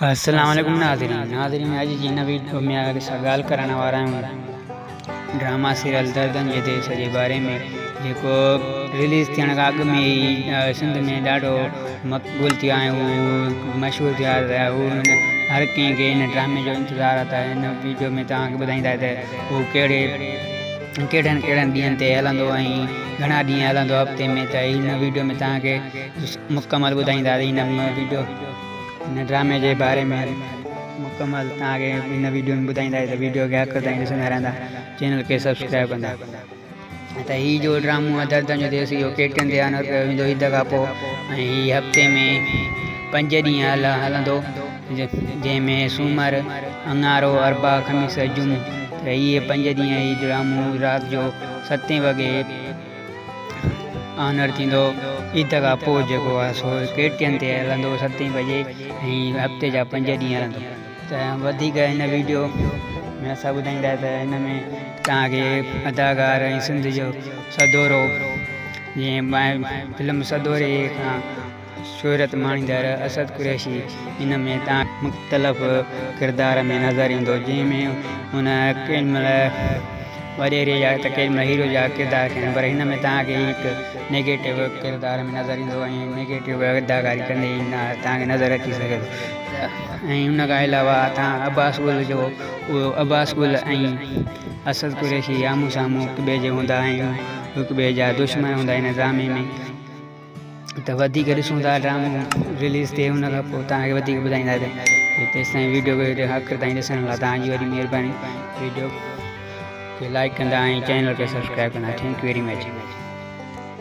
السلام عليڪم ناظرين ناظرين اڄ جي هن ويڊيو ۾ آيا سا ڳالهه ڪرڻ وارا آهيون ڊراما سيريل دردن جي ديس جي باري ۾ جيڪو رليز ٿيڻ کان اڳ ۾ ئي سنڌ ۾ ڏاڍو مقبول ٿيو آهي هو مشهور ٿيا رهيا هو هر ڪنهن کي هن ڊرامي جو انتظار آهي ته هن ويڊيو ۾ توهان کي ٻڌائيندا ته هو ڪهڙي ڪهڙن ڪهڙن ڏينهن تي هلندو ۽ گھڻا ڏينهن هلندو هفتي ۾ ته هن ويڊيو ۾ توهان کي مڪمل ٻڌائينداسين هن ويڊيو هن ڊرامي جي باري ۾ مڪمل توهان کي هن ويڊيو ۾ ٻڌائينداسين ته ويڊيو کي آخر تائين ڏسندا رهندا چينل کي سبسڪرائب ڪندا ته هي جو ڊرامو آهي دردن جو ديس اهو ڪي ٽين تي آنر ڪيو ويندو عيد کان پوء ۽ هي هفتي ۾ پنج ڏينهن هلندو جنهن ۾ سومر اڱارو اربع خميس جمعو ته اهي پنج ڏينهن هي ڊرامو رات جو ستين وڳي آنر ٿيندو عيد کان پوء جيڪو آهي سو ڪي ٽي اين تي هلندو ستين بجي ۽ هفتي جا پنج ڏينهن هلندو ته وڌيڪ هن ويڊيو ۾ اسان ٻڌائيندا ته هن ۾ توهان کي اداڪار ۽ سنڌ جو سدورو جيئن فلم سدوري کان شهرت ماڻيندڙ اسد قريشي ان ۾ تان هڪ مختلف ڪردار ۾ نظر ايندو جنهن ۾ هن ڪيڏي مهل وڏيري جا ته ڪيڏي مهل هيرو جا ڪردار ڪيا آهن پر هن ۾ تان کي هڪ نيگيٽو ڪردار ۾ نظر ايندو ۽ نيگيٽو اداڪاري ڪندي ئي تان کي نظر اچي سگهي ٿو ۽ ان کان علاوه تان عباس گل جو اهو عباس گل ۽ اسد قريشي آمهون سامهون هڪ ٻئي جي هوندا ۽ هڪ ٻئي جا دشمن هوندا ان ڊرامي ۾ ته وڌيڪ ڏسون ٿا ڊرامو رليز تي ان کان پوء توهان کي وڌيڪ ٻڌائينداسين ته تيستائين ويڊيو کي آخر تائين ڏسڻ لاء توهان جي وڏي مهرباني ويڊيو کي لائيڪ ڪندا ۽ چينل کي سبسڪرائيب ڪندا ٿينڪ يو ويري مچ.